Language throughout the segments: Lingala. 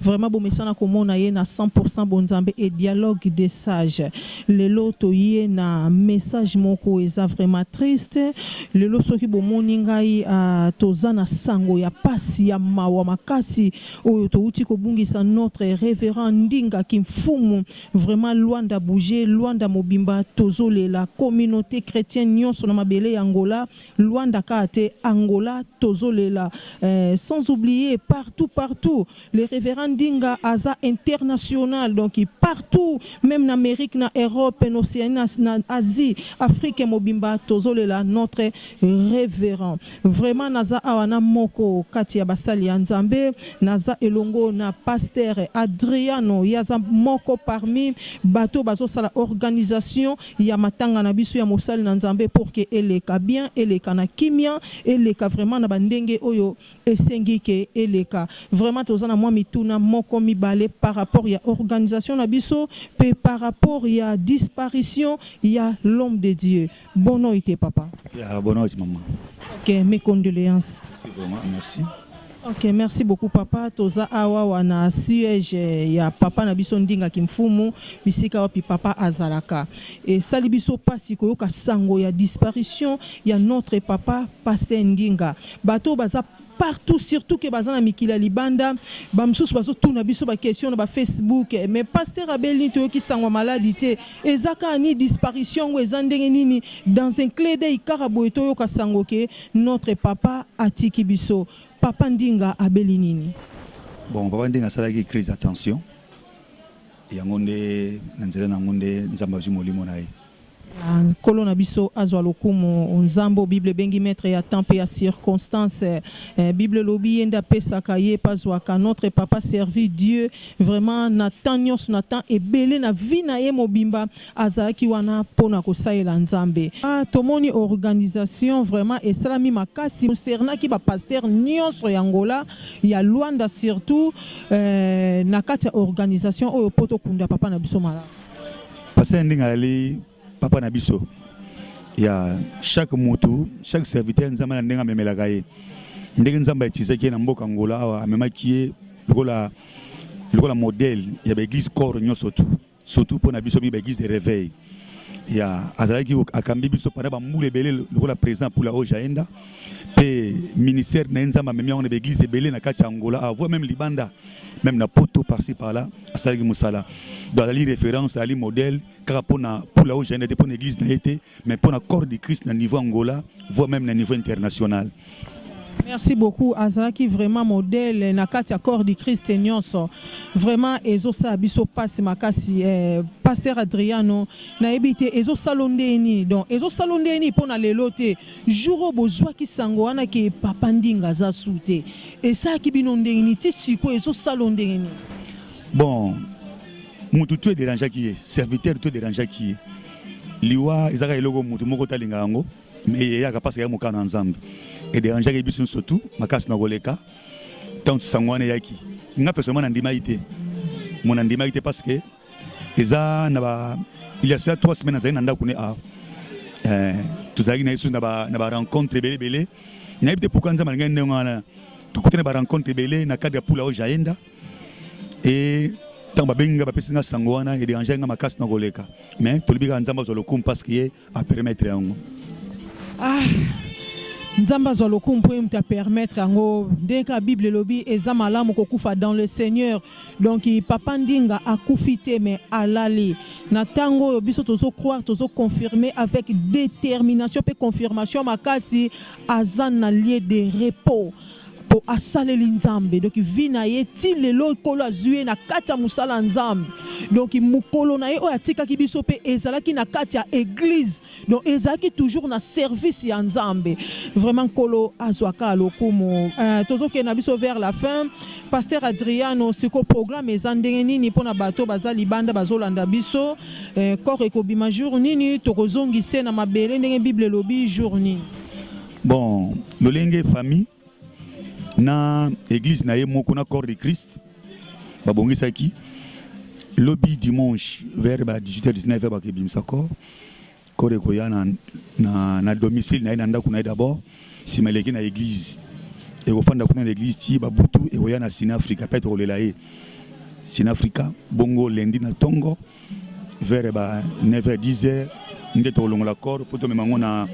Vraiment bomesana komona ye na 100 pourcent bonzambe et dialogue des sages. Lelo toye na message moko eza vraiment triste. Lelo soki bomoni ngai ahh toza na sango ya pasi ya mawa makasi oyo towuti kobungisa notre reverend Ndinga Kimfumu. Vraiment Luanda bouger, Luanda mobimba tozolela. Communaute chretienne nionso na mabele ya Angola Luanda kaka te Angola tozo lela eh, sans oublier partout partout le reverend Ndinga aza international donc partout meme na Amerique na Europe na Oceanie na, na Asie Afrique mobimba tozo lela notre reverend vraiment naza awa na moko kati ya basali ya Nzambe naza elongo na pasteur Adriano ye aza moko parmi bato bazo sala organisation ya matanga na biso ya mosali na Nzambe pour que eleka bien, eleka na kimia, eleka vraiment na ba ndenge oyo esengi que eleka. Vraiment toza na mwa mituna moko mibale par rapport ya organisation na biso mpe par rapport ya disparition ya l'homme de Dieu. Bonoite papa. Yeah, bonoite maman. Ok, mes condoleances. Merci vraiment, merci. Ok merci beaucoup papa toza awa wana siège ya papa na biso ndinga kimfumu bisika wapi papa azalaka esali biso pasi koyoka sango ya disparition ya notre papa pasteur ndinga bato baza partout surtout que baza na mikili ya libanda ba mosusu bazotuna biso ba question na ba facebook mais pasteur abelini toyoki sango maladi te eza kaka ni disparition yango eza ndenge nini dans un clé d'oeil kaka boye toyoka sango ke Notre papa atiki biso. Papa ndinga abeli nini? Bon papa ndinga asalaki crise ya tension yango nde na nzela na yango nde nzambe azwi molimo na ye. Nkolo na biso azwa lokumu. Nzambe oyo bible ebengi maitre ya temps pe ya circonstance eh, bible elobi ye nde apesaka ye pe azwaka. Notre papa servit Dieu vraiment na temps nionso, na temps ebele na vie na ye mobimba Azalaki wana po na kosalela Nzambe. Ah tomoni organisation vraiment esalami makasi concernaki ba pasteurs nionso ya Angola, ya Luanda surtout eh, na kati ya organisation oyo po tokunda Papa na biso malamu. Pasteur Ndinga azali Papa na biso ya chaque mutu, chaque serviteur Nzambe na ndenge amemelaka ye, ndenge Nzambe a utilisaki ye na mboka Angola awa, amemaki ye lokola lokola modèle ya ba eglise corps nionso tout. surtout pona biso mi ba église de réveil ya azalaki akambi biso pendant ba mbula ebele lokola président pula oyo jaenda mpe ministère na ye nzambe amemi yango na baeglise ebele na kati ya angola avoua meme libanda meme na poto parci parla asalaki mosala do azali référence azali modèle kaka mpona pula oyo jaenda te mpona église na ye te mais pour la corps du Christ na niveau Angola voire même na niveau international merci beaucoup azalaki vraiment modèle na kati ya corps du christ nyonso vraiment ezosala biso mpasi makasi eh, pasteur adriano nayebi te ezosala ndenge nini donc ezosala ndenge nini mpo na lelo te jour oyo bozwaki sango wana ke papa ndinga aza su te esalaki bino ndenge nini ti sikoyo ezosala ndenge nini bon motu tu ederangeaki ye serviteur tu ederangeaki ye liwa ezaka eloko mutu moko talinga yango me eyaka mpasi ya mokano ya nzambe ederangeaki biso nyonso tu makasi na koleka ntango sango wana eyaki nga personnellement nandimaki te mo nandimaki te parce que eza na ba il y a cela trois semaines azali na ndako ne a ah, eh, tozalaki na yesu na ba na ba rencontre ebele ebele nayebi te pourquoi nzambe alingaki ndenge wana tokutani ba rencontre ebele na cadre ya pula oyo jaenda et ntango babengi ngai bapesi ngai sango wana ederange ngai makasi na koleka mais tolobi kaka nzambe azwa lokumu parce que ye apermettre yango ah. nzambe azwa lokumu mpo ye moto apermettre yango ndenge kaka bible elobi eza malamu kokufa dans le seigneur donc papa ndinga akufi te mais alali na ntango oyo biso tozo croire tozo confirmer avec détermination mpe confirmation makasi aza na lieu de repos po asaleli nzambe donc vie na ye ti lelo nkolo azwi ye na kati ya mosala ya nzambe donc mokolo na ye oyo atikaki biso mpe ezalaki na kati ya eglise donc ezalaki toujours na service ya nzambe vraiment nkolo azwaka lokumu uh, tozokende na biso vers la fin pasteur adriano siko programme eza ndenge nini mpo na bato baza libanda bazolanda biso eh, corps ekobima jour nini tokozongise na mabele ndenge bible elobi jour nini Bon, lolenge famille na église na ye moko na corps de Christ babongisaki lobi dimanche vers ba 18h 19h bakebimisa corps corps ekoya na, na, na domicile na ye na ndako na ye d'abord nsima eleki na église ekofanda kuna na église ti babutu ekoya na sinafrika mpe tokolela ye sinafrika bongo lendi na ntongo vers ba 9 heures 10 heures nde tokolongola corps mpo tomema yango na,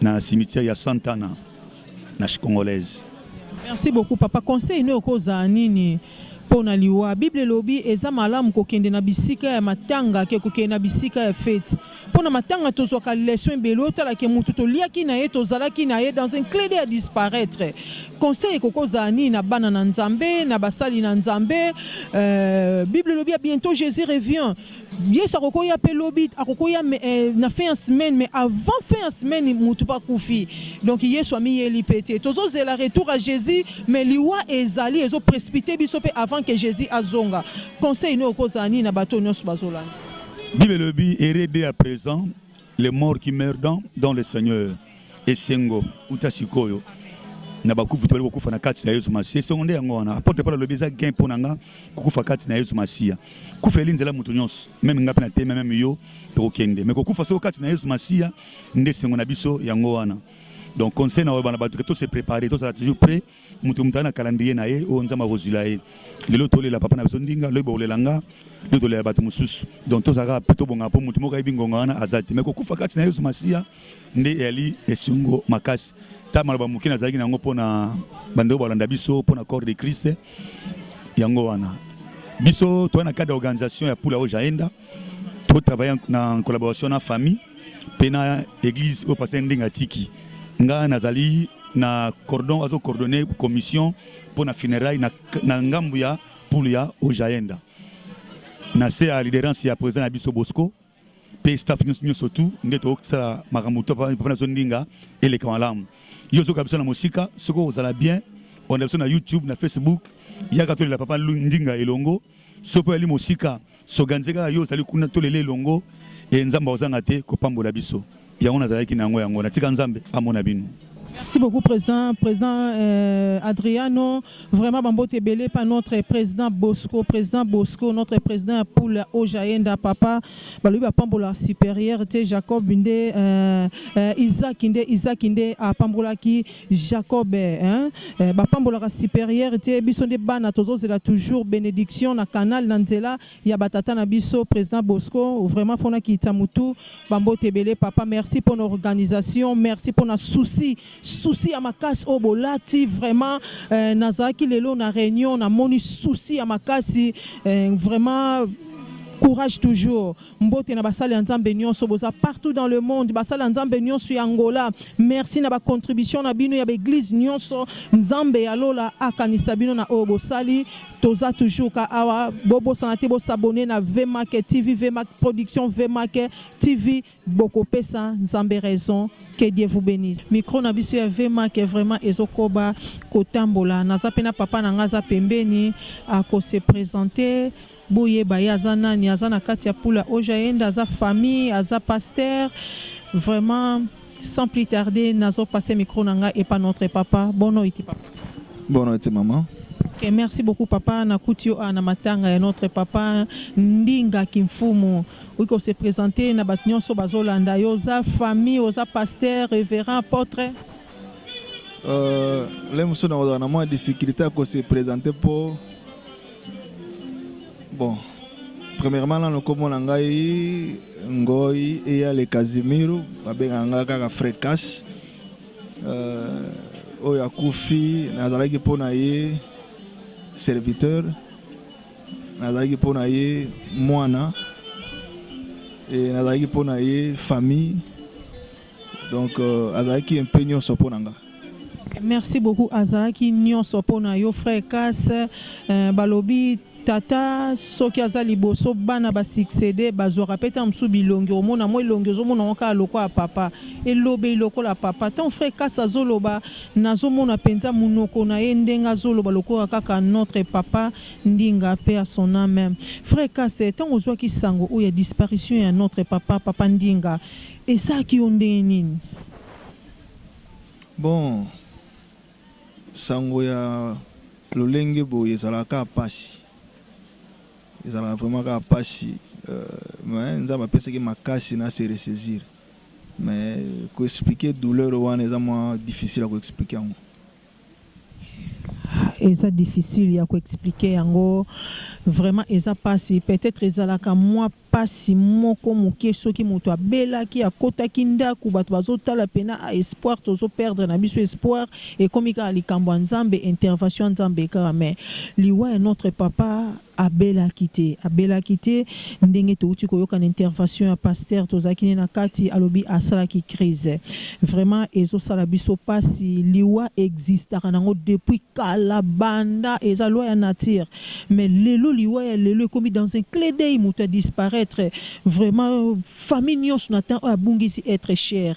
na cimetière ya Santana na Chikongolaise. Merci beaucoup papa. Conseil no okozala nini mpo na liwa? Bible elobi eza malamu kokende na bisika ya matanga ke kokende na bisika ya feti. Pona matanga tozwaka leçon ebele otala ke mutu toliaki na ye tozalaki na ye dans un cle d'oeil à disparaitre conseil ekoki kozala nini na bana na nzambe na basali na nzambe euh, bible elobi ya bientôt jesus revient yesu akoki oya pe lobi akoki oya euh, na fin ya semaine mais avant fin ya semaine mutu pa kufi donc yesu amiyeli pe te tozozela retour à jesus mais liwa ezali ezo précipite biso pe avant que jesus azonga conseil nini okozala nini na bato nyonso bazolanda Bible elobi heureux dès à présent les morts qui meurent dans, dans le Seigneur. Esengo uta sikoyo na bakufi tobali kokufa na kati na yesu masiya esongo nde yango wana apotre paul alobi eza gain mpo na nga kokufa kati na yesu masiya kufa eli nzela moto nyonso meme nga mpe na teme meme yo tokokende me kokufa soko kati na yesu masiya nde esengo na biso yango wana donc conseil na oyebana bato ke tose prépare tozala toujours prêt Moto moto aza na calendrier na ye oyo Nzambe akozwila ye. Lelo tolela papa na biso ndinga, lobi bokolela nga, lobi tolela bato mosusu. Donc tozalaka mpe tobongaka mpo moto moko ayebi ngonga wana aza te. Mais kokufa kati na Yesu Masiya nde eyali esengo makasi. Ta maloba moke nazalaki na yango mpo na bandeko balanda biso mpo na corps de Christ yango wana. Biso toyaki na cadre ya organisation ya Pula Oja Enda. to travailler na en collaboration na famille mpe na église oyo pasteur ndenge atiki nga nazali na cordon azo coordonner commission mpo na funérailles na, na ngambu ya poule ya ojaenda na se ya liderance ya président na biso bosco mpe staff nyonso tout nde tokosala makambo to mpo nazo ndinga eleka malamu yo ozoka biso na mosika soki ozala bien onda biso na youtube na facebook yaka tolela papa ndinga elongo soki mpo yali mosika Soganze kaka yo ozali kuna to lele elongo e Nzambe ozanga te kopambola biso yango nazalaki na yango yango natika Nzambe amona bino. Merci beaucoup président président euh, Adriano vraiment bambote ebele pa notre président Bosco président Bosco notre président ya poule Ojaenda papa balobi bapambola supérieur te Jacob nde euh, euh, Isaac nde Isaac nde apambolaki Jacob hein eh, ba pambolaka superieur te biso nde bana tozozela toujours benediction na canal na nzela ya batata na biso president Bosco vraiment fona kitsa mutu bambote ebele papa merci pour organisation merci pour na souci souci ya makasi oyo bolati vraiment eh, nazalaki lelo na réunion na moni souci ya makasi eh, vraiment courage toujours Mbote na basali ya nzambe nionso boza partout dans le monde basali ya nzambe nionso ya Angola merci na ba contribution na bino ya ba eglise nionso nzambe ya lola akanisa bino na oyo bosali toza toujours ka awa bobosana te bo s'abonner na VMAC TV VMAC production VMAC TV bokopesa nzambe raison que Dieu vous bénisse. Micro na biso ya Vema ke vraiment ezokoba kotambola. Naza pe na papa na nga za pembeni à ko se présenter Boyeba ye aza nani aza na kati ya pula oja yende aza famille aza pasteur vraiment sans plus tarder nazo passer micro na nga epa notre papa bono iti papa. Bono iti maman. Okay, merci beaucoup papa na kuti yo a na matanga ya notre papa Ndinga Kimfumu oki ose presenter na bato nyonso bazolanda yo oza famille oza pasteur révérend apôtre euh, le mosusu nakozala na mwa difficulté ya kose présenter mpo Bon, premièrement nano kombo na ngai Ngoyi Eyale Casimiro, babengaka ngai kaka Frecas. Euh, oyo akufi nazalaki mpo na ye serviteur, nazalaki mpo na ye mwana, e, nazalaki mpo na ye famille Donc euh, azalaki un peu nyonso mpo na nga. Merci beaucoup azalaki nyonso mpo na yo frère Kas euh, balobi tata soki aza liboso bana basuccédé bazwaka mpe ntango mosusu bilongi omona mwa elongi ozomona yango kaka lokola papa elobeli lokola papa ntango frère kasi azoloba nazomona mpenza monoko na ye ndenge azoloba lokola kaka notre papa ndinga mpe ya son ame frère kasi ntango ozwaki sango oyo ya disparition ya notre papa papa ndinga Esalaki yo ndenge nini? Bon, sango ya lolenge boye ezalaka kaka pasi, ezalaka vraiment kaka pasi mais Nzambe apesaki makasi na se ressaisir mais ko expliquer douleur wana eza mua difficile ya ko expliquer yango. Eza difficile ya ko expliquer yango vraiment eza pasi peut-etre ezalaka mua. Pasi moko mukie soki mutu abelaki akotaki ndaku batu bazo tala pena a espoir tozo perdre na biso espoir ekomi kaka likambo ya nzambe intervation ya nzambe kaka mais liwa ya notre papa abelaki te abelaki te ndenge towuti koyoka na intervation ya pasteur tozalaki ne na kati alobi asalaki crise vraiment ezo sala biso pasi liwa existaka nango depuis kala banda eza loi ya nature Mais lelo liwa ya lelo ekomi dans un cle d'oeil mutu a disparaitre vraiment famille nionso na temps oyo abungisi etre cher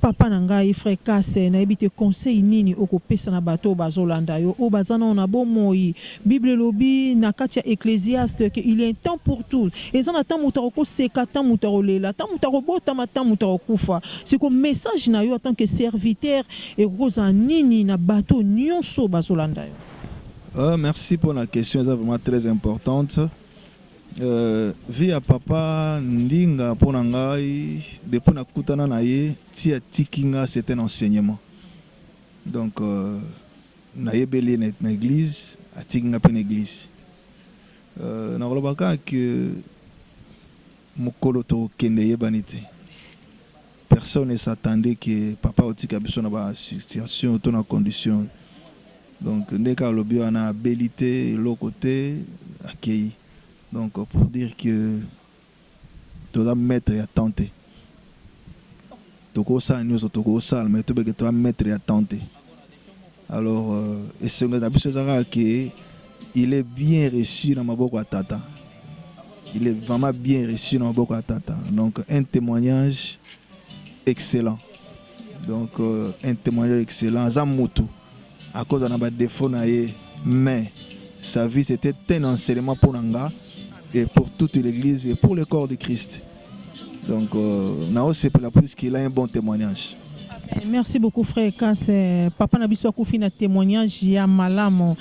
papa na ngai frère Kasse nayebi te conseil nini oko pesa na bato oyo bazo landa yo oyo baza nano na bo moyi bible elobi na kati ya Ecclesiaste que il ya un temps pour tout eza na temps mutu ako seka temps mutu ako lela temps mutu ako botama temps mutu ako kufa sikoyo message na yo en tant que serviteur ekoki kozala nini na bato oyo nionso oyo bazo landa yo. Ahh merci pona question eza vraiment très importante euh, vie ya papa ndinga pona ngai depuis nakutana na ye ti atiki nga c'est un enseignement donc euh, nayebeli ye na église atiki nga mpe na église euh, nakolobaka que Mukolo toko kende eyebani te personne ne s'attendait que papa otika biso na ba situation to na condition donc nde kaka alobi wana abeli te eloko te akeyi donc pour dire que toza maitre ya temps te toko sala nioso toko sala mais toyebake toza maitre ya temps te. Alors euh, esengo na biso eza kaka ke il est bien reçu na maboko ya tata il est vraiment bien reçu na maboko ya tata donc un témoignage excellent donc euh, un témoignage excellent aza mutu akoza na badefo na ye mais sa vie c'était un enseignement mpo na nga et pour toute l'église et pour le corps de christ Donc euh, nao sepela plus qu'il a un bon témoignage. Eh, merci beaucoup frère Kas eh, papa na biso akufi na témoignage ya malamu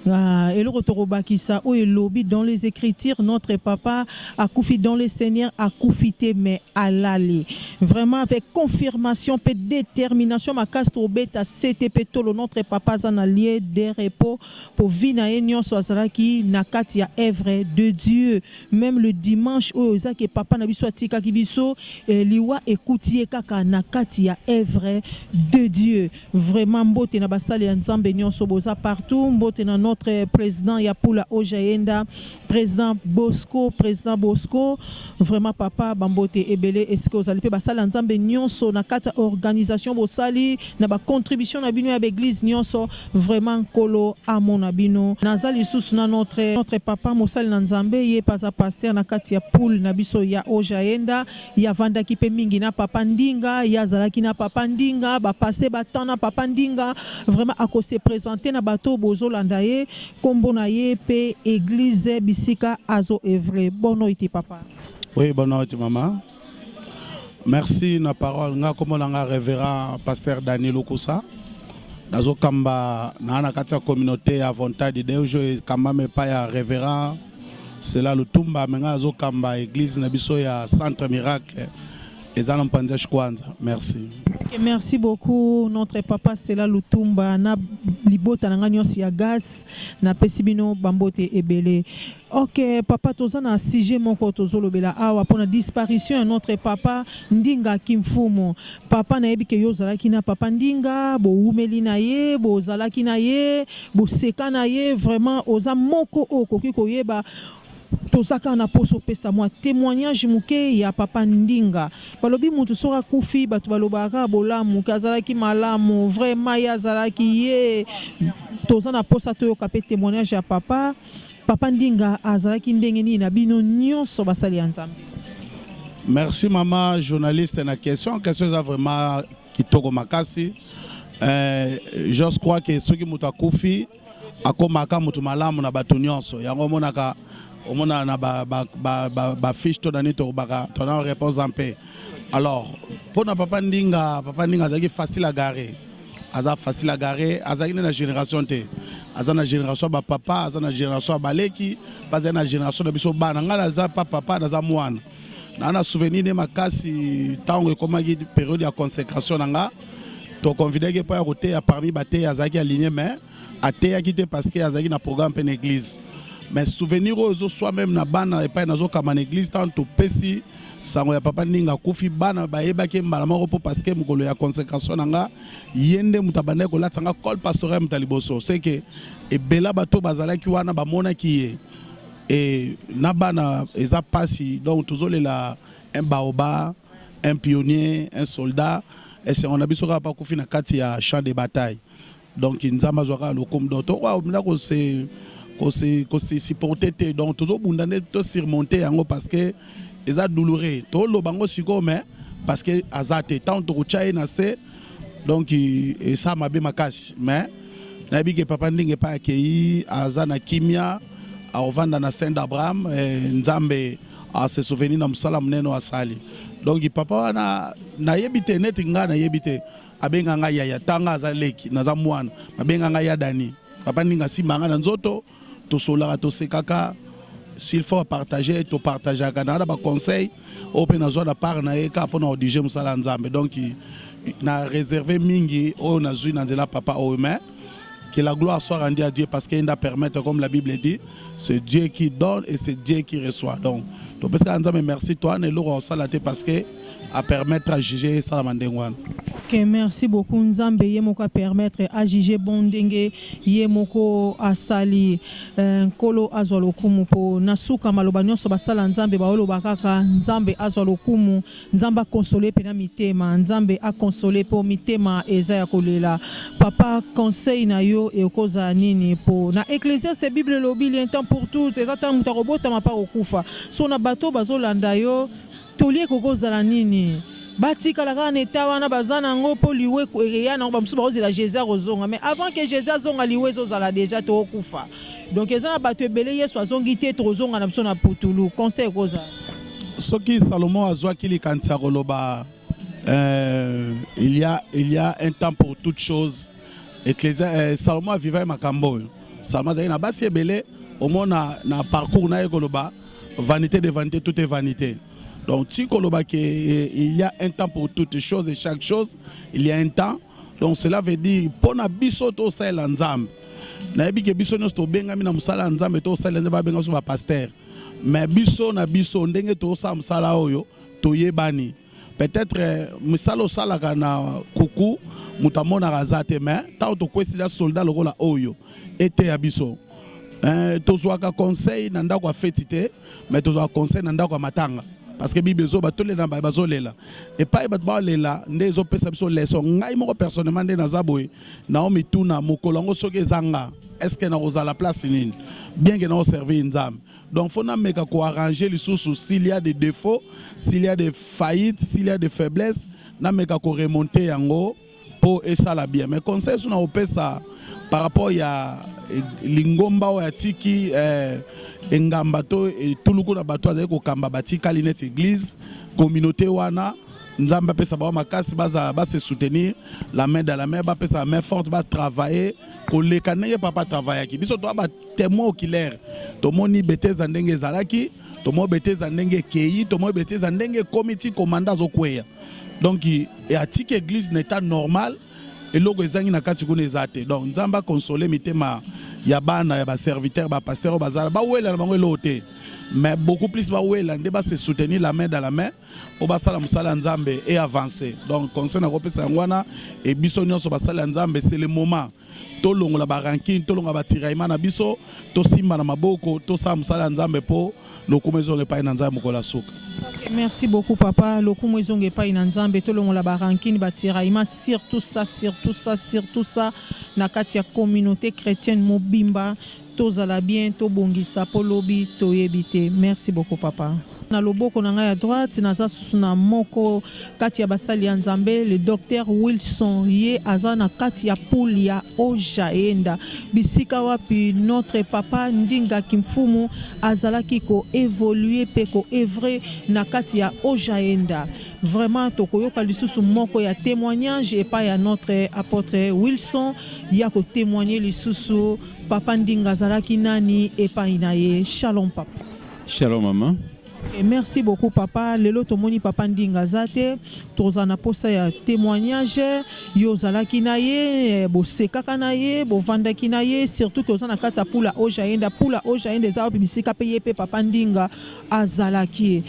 ah, eloko tokobakisa oyo elobi dans les écritures notre papa akufi dans le seigneur akufi te mais alali vraiment avec confirmation mpe détermination makasi tobeta sete mpe tolo notre papa aza na lieu de repos mpo vi na ye nyonso azalaki na kati ya œuvre de dieu meme le dimanche oyo eza ke papa na biso atikaki biso eh, liwa ekuti ye kaka na kati ya evre de Dieu vraiment mbote na basali ya Nzambe nyonso boza partout mbote na notre president ya pula oja yenda president Bosco president Bosco vraiment papa bambote ebele esika ozali pe basali ya Nzambe nyonso na kati ya organisation bosali na ba contribution na bino ya ba eglise nyonso Vraiment nkolo amona bino naza lisusu na notre notre papa mosali na nzambe yepe aza pasteur na kati ya poule na biso ya ojaenda ye avandaki pe mingi na papa ndinga ye azalaki na papa ndinga ba passe ba temps na papa ndinga vraiment ako se presente na bato oyo bozolanda ye kombo na ye pe eglise bisika azo evre bon noite papa. Oui bonne noite maman. Merci na parole nga kombo na nga reverend pasteur Dani Lukusa nazokamba na na kati ya communauté ya Volonté de Deus oyo ekambami epai ya reverend Sela Lutumba me nga nazokamba eglise na biso ya centre miracle eza na mpanza shikwanza merci okay, merci beaucoup notre papa Sela Lutumba na libota na nga nyonso ya gas napesi bino bambote ebele Ok papa toza na sujet moko tozo lobela awa pona disparition ya notre papa ndinga kimfumu papa nayebi ke yo ozalaki na papa ndinga bowumeli na ye bozalaki na ye boseka na ye vraiment oza moko oyo okoki koyeba toza kaka na posa opesa mua temoignage muke ya papa ndinga balobi mutu soki akufi batu balobaka kaka bolamu ke azalaki malamu vraiment ye azalaki ye toza na posa toyoka pe temoignage ya papa Papa Ndinga azalaki ndenge nini na bino nionso basali ya Nzambe? Merci mama journaliste na question question eza vraiment kitoko makasi eh, je crois que soki moto akufi akomaka moto malamu na bato nyonso yango omonaka omonaka na bafiche ba, ba, ba, to na nini tokobaka tona réponse mpe alors mpo na papa ndinga papa ndinga azalaki facile à garer aza facile à garer azalaki nde na génération te aza na génération ya bapapa aza na génération ya baleki mpe azali na génération na biso bana ngai naza pa papa naza mwana naa na souvenir nde makasi ntango ekomaki periode ya consécration na nga toconvidaki epai ya koteya parmi bateya azalaki aligné mais ateyaki te parce que azalaki na programme mpe na église mais souvenir oyo ezoswa meme na bana epai nazokamba na église ntango topesi sango ya papa ndinga akufi bana bayebaki ye mbala moko mpo parce que mokolo ya consécration na nga ye nde moto abandaki kolatisa nga col pastorel moto ya liboso seke ebela bato bazalaki wana bamonaki ye e, na bana eza mpasi donc tozolela un baoba un pionnier un soldat esengo na biso kaka mpo akufi na kati ya champ de bataille Donc nzambe azwa kaka lokumu donc to wa mina ko se ko se ko se supporter te donc tozo bunda nde to surmonter yango parce que eza douloureux to loba ngo siko mais parce que aza te tant toko tya ye na se donc esa mabe makasi mais nayebi ke papa ndenge epai akei aza na kimia akovanda na saint abraham eh, nzambe ase souvenir na mosala monene oyo asali donc papa wana nayebi te neti ngai nayebi te Babenga nga yaya tanga aza leki naza mwana babenga nga ya Dani papa ninga asimba nga na nzoto tosolaka tosekaka s'il faut partager to partageaka na na ba conseil oyo mpe nazwa na part na ye kaka mpo na odige mosala ya Nzambe donc na reserve mingi oyo nazwi na nzela papa oyo mais Que la gloire soit rendue à Dieu parce qu'il a permettre, comme la Bible dit, c'est Dieu qui donne et c'est Dieu qui reçoit. Donc, tu peux ça, mais merci toi, ne l'eau au salaté parce que à permettre à juger ça la mandengouane. Ok, merci beaucoup. Nzambe ye moko permettre à juger bon dengue ye moko asali euh, nkolo azwa lokumu po nasuka maloba nyonso basala nzambe baoloba kaka nzambe azwa lokumu Nzambe a console pena mitema. Nzambe a console po mitema eza ya kolela papa conseil na yo ekozala nini po na ecclesiaste bible elobi lien temps pour tous eza tala moto akobotama mpe akokufa so na bato bazolanda yo toli ekokozala nini batikala kaka na eta wana baza na yango mpo liwe eya nango bamosusu bakozela jesus akozonga mais avant que jesus azonga liwe ezozala deja tokokufa donc eza na bato ebele yesu azongi te tokozonga na biso na putulu conseil ekozala Soki Salomo azwaki likanisi ya koloba euh, il y a il y a un temps pour toute chose Ecclesia euh, Salomo avivaki makambo oyo Salomo azalaki na basi ebele omona na parcours na ye koloba vanité de vanité tout est vanité donc ti koloba ke euh, il y a un temps pour toute chose et chaque chose il y a un temps donc cela veut dire mpo na biso tosalela Nzambe nayebi ke biso nyonso tobengami na mosala ya Nzambe tosalela Nzambe babenga biso bapastere Mais biso na biso ndenge tozosala mosala oyo toyebani. Peut-etre misala osalaka na kuku moto amonaka aza te, mais ntango tokwesi la soldat lokola oyo eteya biso. Eh, tozwaka conseil na ndako ya feti te, mais tozwaka conseil na ndako ya matanga parce que bible ezoba tolela baye bazolela epai bato baolela nde ezopesa biso leso ngai moko personnellement nde naza boye nao mituna mokolo yango soki eza nga est ce que nakozala place nini bien que nao servir nzambe donc faut nameka koarrange lisusu s'il y a des défauts s'il y a des faillites s'il y a des faiblesses nameka koremonte yango mpo esala bien mais conseil esu nakopesa par rapport ya eh, lingomba oyo atiki eh, engamba to etuluku na bato azali kokamba batikali neti eglise communauté wana Nzambe apesa bango makasi baza ba se soutenir la main dans la main bapesa main forte ba travailler koleka ndenge papa travaillaki biso toa ba témoin oculaire tomoni beteza ndenge ezalaki tomoni beteza ndenge ekei tomoni beteza ndenge ekomi ti komanda azokweya donc atiki église na état normal eloko ezangi na kati kuna eza te donc nzambe akonsole mitema ya bana ya baserviteur bapasteur oyo bazala bawela na bango eloko te mais beaucoup plus bawela nde base soutenir la main dans la main mpo basala mosala ya Nzambe e avance. Donc conseil nakopesa yango wana e biso nyonso basali ya Nzambe c'est le moment tolongola ba rancune, tolongola ba tiraillement na biso, tosimba na maboko, tosala mosala ya Nzambe mpo lokumu ezonga epai na Nzambe mokolo ya suka. Okay, merci beaucoup papa. Lokumu ezonga epai na Nzambe, tolongola ba rancune, ba tiraillement, surtout ça, surtout ça, surtout ça na kati ya communauté chrétienne mobimba. Tozala bien tobongisa po lobi toyebi te merci beaucoup papa. Na loboko na ngai ya droite naza susu na moko kati ya basali ya Nzambe le Docteur Wilson ye aza na kati ya pool ya Ojaenda bisika wapi notre papa Ndinga Kimfumu azalaki ko evoluer pe ko evrer na kati ya Ojaenda vraiment tokoyoka lisusu moko ya temoignage epai ya notre apotre Wilson ya ko temoigner lisusu Papa Ndinga azalaki nani epai na ye? Shalom papa. Shalom mama. Okay, merci beaucoup papa. Lelo tomoni papa Ndinga aza te, tozala na posa ya témoignage. Yo ozalaki na ye, eh, bosekaka na ye, bovandaki na ye, surtout que oza na kati ya pula oja yenda. Pula oja yenda eza wapi bisika pe ye pe papa Ndinga azalaki.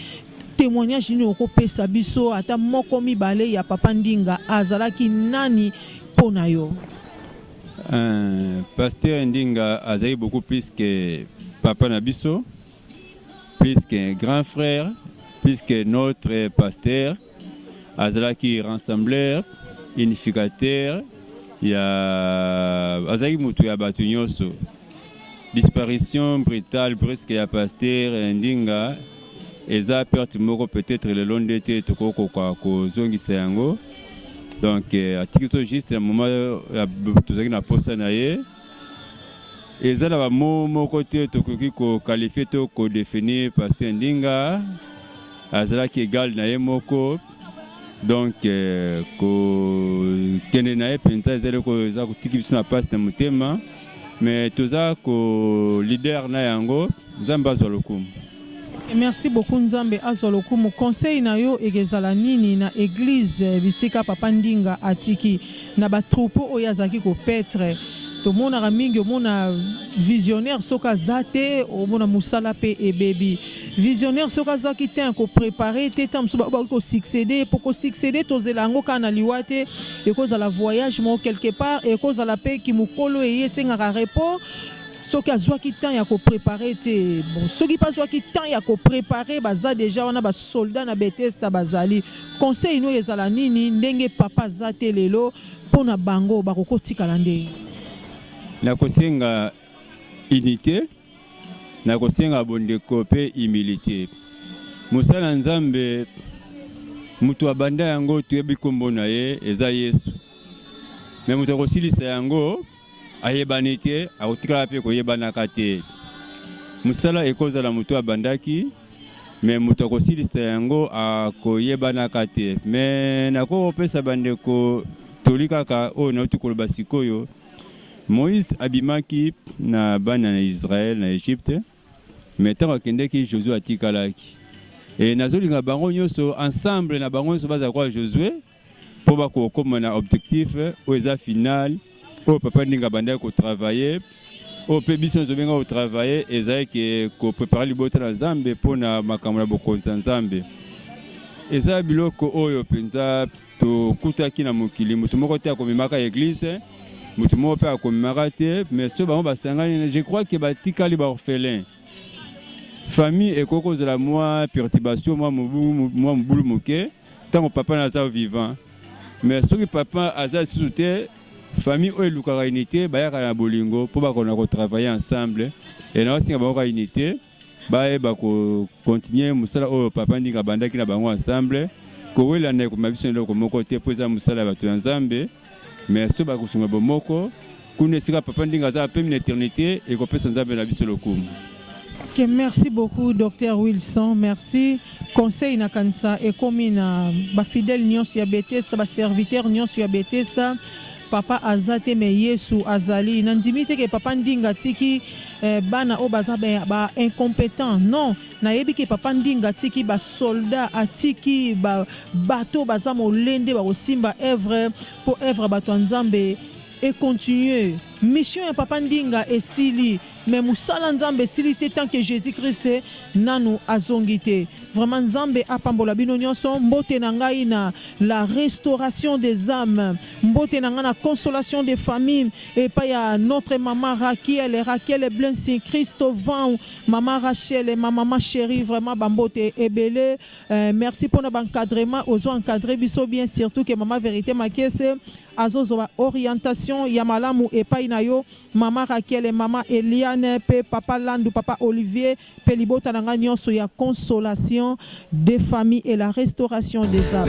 Témoignage nini okopesa biso ata moko mibale ya papa Ndinga azalaki nani mpo na yo? Euh, pasteur Ndinga azali beaucoup plus que papa na biso, plus qu'un grand frère, plus que notre pasteur. Azalaki rassembleur, unificateur, ya azalaki moto ya bato nyonso. disparition brutale presque ya pasteur eh, ndinga eza perte moko peut-être lelo nde te tokokoka kozongisa yango donc eh, atiki so juste na moment tozalaki na posa na ye eza na bamo moko te tokoki kokalifie to kodefinir pasteur ndinga azalaki egale na ye moko donc eh, kokende na ye mpenza ezali eza kotiki biso na mpasi na motema mais toza ko leader na yango nzambe azwa lokumu merci beaucoup nzambe azwa lokumu conseil na yo ekezala nini na eglise bisika papa ndinga atiki na batroupeau oyo azalaki kopetre tomonaka mingi omona visionnaire soki aza te omona mosala mpe ebebi visionnaire soki azwaki te akoprepare te ntango mosusu bakoki kosuccede mpo kosuccede tozela yango kaka na liwa te ekozala voyage moko quelque part ekozala mpe kimokolo eye esengaka repos soki azwaki temps ya koprepare te bon soki mpe azwaki temps ya koprepare baza deja wana basoldat na betesta bazali conseil no ezala nini ndenge papa aza te lelo mpo na bango bakokotikala ndenge nakosenga unité na kosenga bondeko pe humilite. Mosali na Nzambe mutu abanda yango toyebi kombo na ye eza Yesu. Mais mutu akosilisa yango ayebani te, akotikala pe koyebanaka te. Mosala ekozala mutu abandaki mais mutu akosilisa yango akoyebanaka te. Mais nakopesa bandeko toli kaka oyo nauti koloba sikoyo. Moïse abimaki na bana na Israël na Egypte, mais tango akendeki Josué atikalaki. Et nazolinga bango nyoso ensemble na bango nyoso baza kwa Josué po bakokoma na objectif oyo eza final oyo papa ndinga bandaki ko travailler oyo mpe biso nyoso tobenga ko travailler ezali ke ko préparer libota na Nzambe mpo na makambo na bokonzi na Nzambe. Eza biloko oyo mpenza Tokutaki na mokili moto moko te akomemaka eglise, moto moko mpe akomemaka te, mais soki bango basangani, je crois que batikali ba orphelin. Famille ekoki kozala mwa perturbation, mwa mobulu, mwa mobulu moke ntango papa na aza vivant, mais soki papa aza lisusu te famille oyo elukaka unité bayaka na bolingo mpo bakona kotravaille ensemble e naosenga bango ka unité bayeba ko continuer mosala oyo papa ndinga abandaki na bango ensemble kowelana ekoma biso na eloko moko te mpo eza mosala ya bato ya nzambe mais so bakosunga bomoko kuna esika papa ndinga azala mpe na eternité ekopesa nzambe na biso lokumu Okay, merci beaucoup docteur wilson merci conseil na kanisa ekomi na bafidèle nyonso ya betesta baserviteur nyonso ya betesta Papa aza te mais Yesu azali. Nandimi te que papa Ndinga tiki eh, bana oyo baza ba, ba incompetent. Non, nayebi que papa Ndinga tiki ba soldats, atiki ba bato baza molende bakosimba œuvre po œuvre bato ya Nzambe et continuer. Mission ya papa Ndinga esili. Mais musala nzambe esili te tant que Jesus Christ nanu azongi te vraiment nzambe apambola bino nionso mbote na ngai na la restauration des ames mbote na ngai na consolation des familles epai ya notre maman Rakiel Rakiel Blessing Christo Vau maman Rachel et ma maman cherie vraiment ba mbote ebele euh, merci pona ba encadrement ozo encadrer biso bien surtout que maman verite makese azozwa ba orientation ya malamu epai na yo Mama Raquel, mama Eliane pe papa Landu, papa Olivier pe libota na nga nionso ya consolation de famille et la restauration des ames.